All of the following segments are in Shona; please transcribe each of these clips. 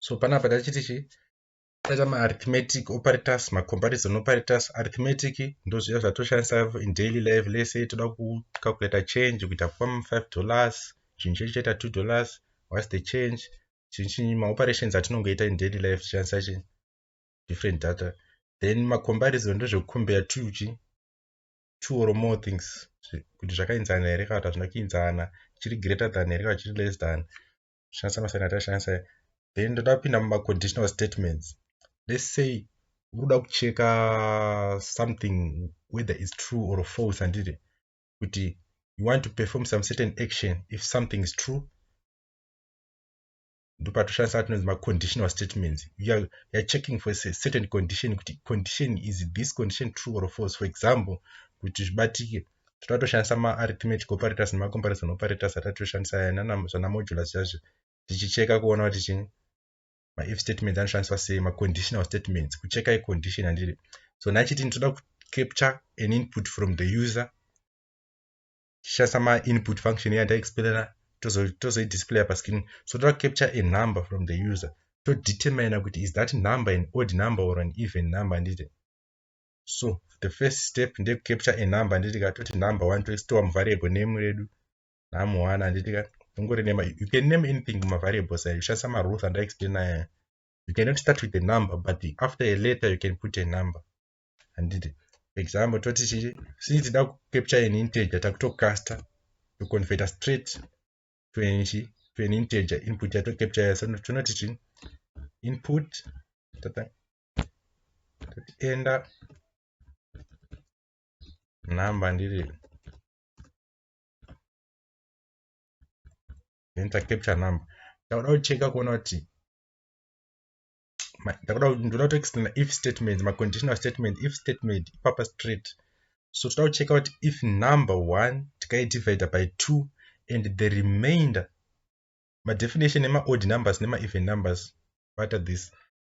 so panapa tachiti chi taita maarithmetic operators macomparison operators arithmetic ndozviya zvatoshandisa in daily life lese toda kucalculator change kuita fam five dollars chinhu chedu chaita two dollars whats the change chinhu chinyi maoperations atinongoita in daily life tichandisa chi different data then macomparison ndozvekucombare two chi two or more things kuti zvakainzana here kana kuti hazvina kuinzana chiri greater than here kana chiri less than kushandisa masaini atashandisa then ndoda kupinda mumaconditional statements let's say unoda kucheka something whether is true or false handiti kuti you want to perform some certain action if something is true ndopatishandisa atinonzi maconditional statements youare are checking for a certain condition kuti condition is this condition true or false for example kuti zvibatike tinoda toshandisa maarithmetic operators nemacomparison operators atati toshandisa aya zvanamodulus zvazvo tichicheka kuona kuti chini maif statements anoshandiswa sei maconditional statements kucheka icondition handiri so nachiti nditoda kucapture an input from the user tichishandisa mainput function yandaexplaina tozoidisplaya tozo pascreen so toda kucapture a number from the user todetermina kuti is that number an odd number or an even number handiti so the first step ndekucapture a number handiti ka toti number one toistova muvariable name redu nhamu one handiti ka ungori nema you can name anything mumavariables ayo ushandisa marules andaexplaina aya you cannot start with a number but after a letter you can put a number handiti example toti chii since tida kucapture an integer takutocaster toconverta straight to an chi to an integer input yatocapture yaso tonoti chii input tata tochienda number ndiri enter capture number ndakuda kucheka kuona kuti ndakuda ndoda kutoextenda if statement maconditional statement if statement ipapa straight so toda kucheka kuti if number one tikaidivide by two and the remainder madefinition emaodd numbers nemaeven numbers what are this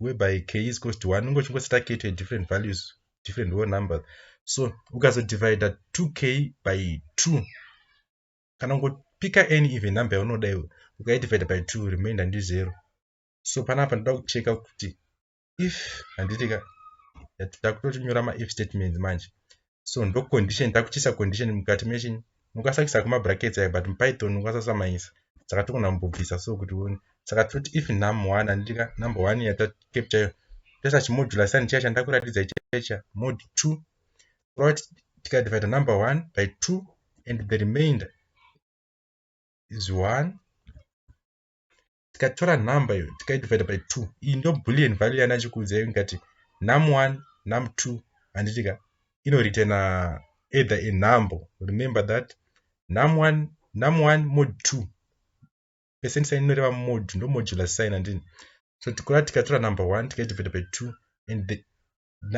whereby k is close to 1 unenge uchingoseta k to a different values different whole numbers so ukazodivida 2k by 2 kana ungopika any even number yaunoda iwe ukaidivida by 2 remainder ndi 0 so panapa ndoda kucheka kuti if handitika takutoti nyora maif statements manje so ndo condition takuchisa condition mukati mechini mukasakisa kuma brackets ayo but mupython ukasasamaisa saka togona kumbobvisa so kuti uone saka toti if num one andika number one yatacapture iyo toisa chimodula sign chiya chandakuratidza ichicha mod two kurava kuti tikadivida number one by two and the remainder is one tikatora number iyo tikaidivide by two iyi ndo bullion value yana chikuudza iyo ingati num one num two handiti ka inoritena either a number remember that num one num one mod two percent sign inoreva mod ndo modular sign handini so tikura tikatora number one tikaidivide by two and the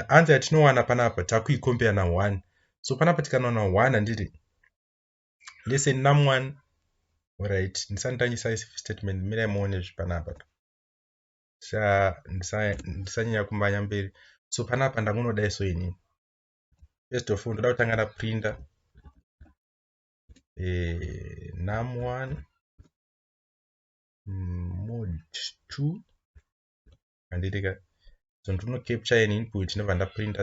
answer yatinowana panapa takuikombera na one so panapa tikanowana one handiti listen nam one orit ndisanditangisa statement mirai muone zvipanapa ndisanyanya kumbanya mberi so panapa ndangunodai so ini first of all ndoda kutanga ndaprinda eh, nam one mm, mod two handitika so ndinocapture an input ndobva ndaprinda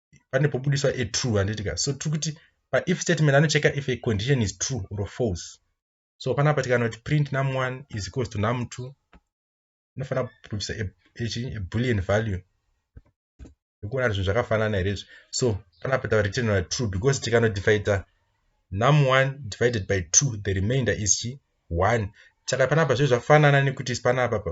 pane pobudiswa a true handitika so tiri kuti paif statement anocheka if a condition is true or false so panapa tikana kuti print num one is equals to num two inofanira kubudisa a bullion value ekuona kuti zvinhu zvakafanana here izvi so panapa tava return na true because tikanodivaida num one divided by two the remainder is chi one saka panapa zve zvafanana nekuti panapa pa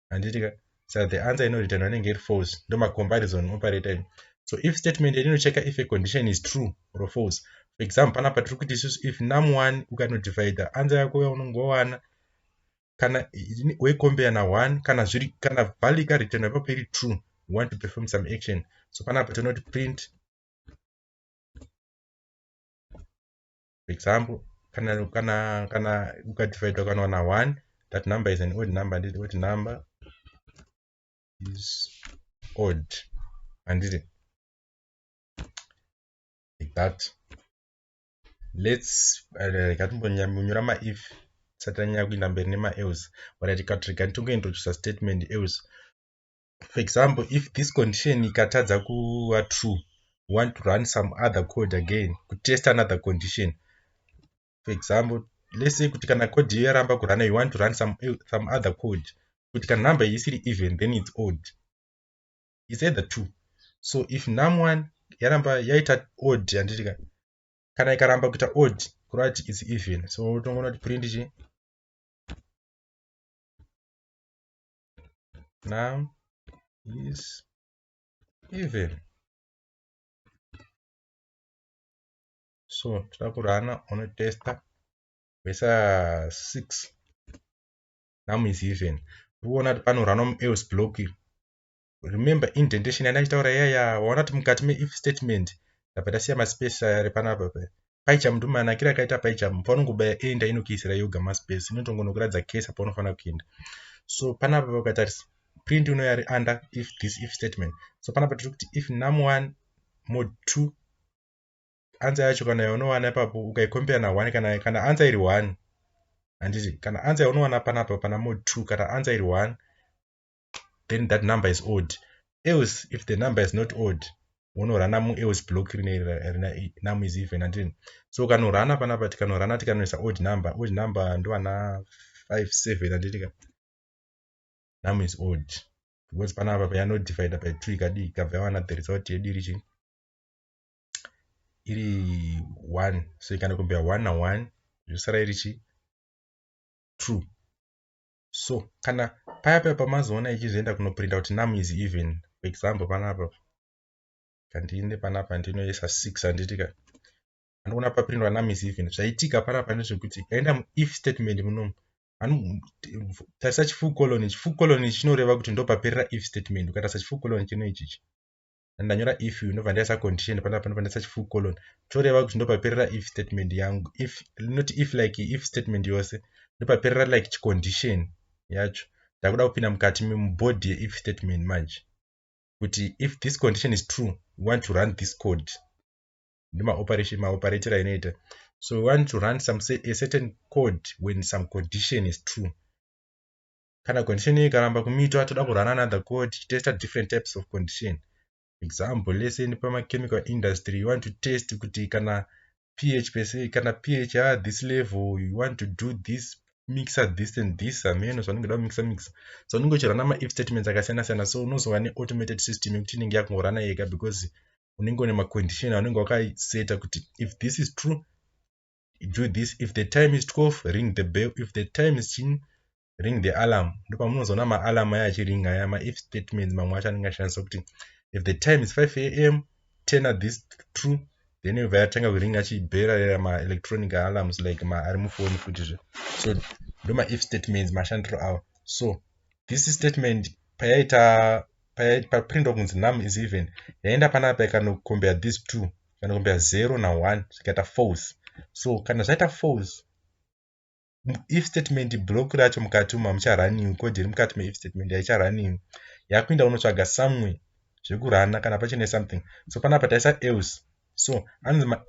handiti ka sa the answer ino return anenge iri false ndo ma comparison operator ino so if statement iri inocheka if a condition is true or false for example pana patiri kuti isusu if num one ukano divider answer yako yaunongowana kana wekombea na one kana zviri kana value ka return ipapo iri true we want to perform some action so panapa tinoti print for example kana kana kana ukadividha ukanowana 1 that number is an odd number handiti odd number is odd handiti like that let's rikatimbonyanyora uh, maif tisati tanyanya kuinda mberi nemaels but rikatirega nditongointroducer statement else for example if this condition ikatadza kuva true you want to run some other code again kutest another condition for example let's say kuti kana code iyo yaramba kurana you want to run some, some other code kuti kana number iyi isiri even then it's odd it's either two so if num one yaramba yaita odd yanditika kana ikaramba kuita odd kureva kuti it's even so unotongoona kuti print chi num is even so toda kurana unotesta vesa 6 num is even uona kuti panorana muelse block iri remember indentation yandaichitaura yaya waona kuti mukati meif statement ndabva ndasiya maspace ari panapa Paicham ndo manakira akaita paicham paunongobaya enda inokiisira yoga maspace inotongonokuratidza case paunofanira kuenda so panapa paukatarisa print unouya ari under if this if statement so panapa tiri kuti if num one mod two ansa yacho kana yaunowana ipapo ukaikompera na one kana kana ansa iri one handiti kana ansa yaunowana panapa pana mod two kana ansa iri one then that number is odd else if the number is not odd wonorana muelse block rine num is even andini so kanorana panapa tikanorana tikanoisa odd number odd number ndovana 5 7 anditika num is odd because panapa payanodivider by 2 ikadii ikabva yawana the result yedu iri chii iri 1 so ikanokombera 1 na 1 zvosara iri chii 2 so kana paya paya pamazoona ichizvienda kunoprinda kuti num is even for example panapa kandiine panapa ndinoisa six handitika andiona paprindwa num is even zvaitika panapa ndezvekuti aenda muif statement munomu tarisa chifukoloni chifukoloni chinoreva kuti ndopaperera if statement ukatarisa chifukoloni chino ichichi and ndanyora if you ndobva ndaisa condition panapa ndobva ndaisa chifull colon toreva kuti ndopaperera if statement yangu if not if like if statement yose ndopaperera like chicondition yacho ndakuda kupinda mukati mubody yeif statement manje kuti if this condition is true we want to run this code ndomaoperation maoperator ainoita so we want to run some a certain code when some condition is true kana condition iyi ikaramba kumitwa toda kurana another code tichitesta different types of condition example let's say nepamachemical industry you want to test kuti kana ph pese kana ph ya this level you want to do this mixer this and this ameno zvanenge da mixer mixer so unenge uchirana maif statements akasiyana siyana so unozova neautomated system yekuti inenge yakungorana yega because unenge une macondition aunenge wakaiseta kuti if this is true do this if the time is 12 ring the bell if the time is chin ring the alarm ndopamunozoona maalarm aya achiringa aya maif statements mamwe acho anenge ashandisa kuti if the time is 5 am turn at this true then yobva yatanga kuringa achibherarera maelectronic alarms like ma ari mufoni futizve so ndoma if statements mashandiro awa so this statement payaita paprintwa kunzi nam is even yaenda panapa ikanokombea this two zvinokumbira 0 na 1 zvikaita false so kana zvaita false if statement block racho mukati umu hamucharaniwi code iri mukati meif statement haicharaniwi yakuenda unotsvaga somewhere zvekurana kana pachine something so panapa taisa else so anzi